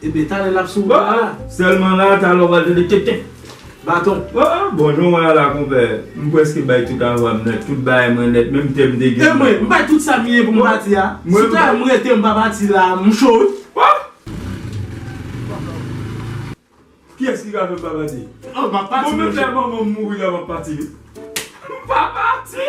Ebyen talè lap sou wout la. Sèlman la, talè ou pral tande kèk kèk. Baton. Ooh bonjou mwen ala konpè. M preske bay tout avwa m nèt, tout bagay mwen nèt menm tèm de gin. E mwen, m bay tout sa m ye pou m pati a. Si ta m rete m pa pati la, m cho wi. Wap! Kiyès ki ka fè m pa pati? Bon menm lè manman m mouri la m ap pati wi. M pa pati!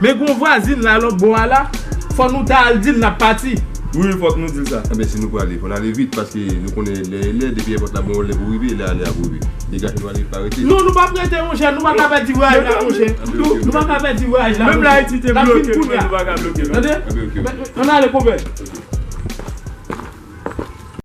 Men gon vwazin la lòt bò a la, fò nou ta al di l n ap pati. Wi, fòk nou di l sa. Enben, si nou prale, fò n ale vit, paske nou konnen lè e lè, depi èpòt la bon yon lè pou rive, lè ale a pou rive. Degaje nou ale, pa rete. Non, nou pa p rete, monchè, nou pa ka pèdi vwayaj la, monchè. Nou pa ka pèdi vwayaj la, monchè. Menm lè Ayiti te bloke nou, men nou pa ka bloke l. Tande, ann ale, konpè.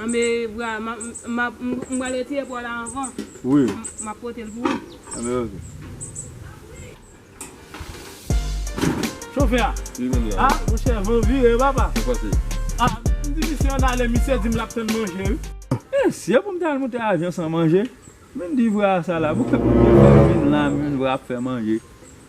Anbe bra map m pral retire paw la anvan wi map potel pou ou. Anbe ok. Chofè a a monchè van vire papa a m di misye ann ale misye di m lap tann manje wi. Mesye pou m ta al moute avyon san manje menm di vra a sa la pou kèm vin la menm vra ap fè manje.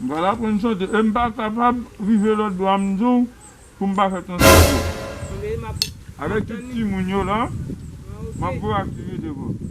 M pral aprann chante e m pa kapab rive lòt bò a m di w pou m pa fè transpòte. Avèk tout timoun yo la, m ap fè aktivite pou ou.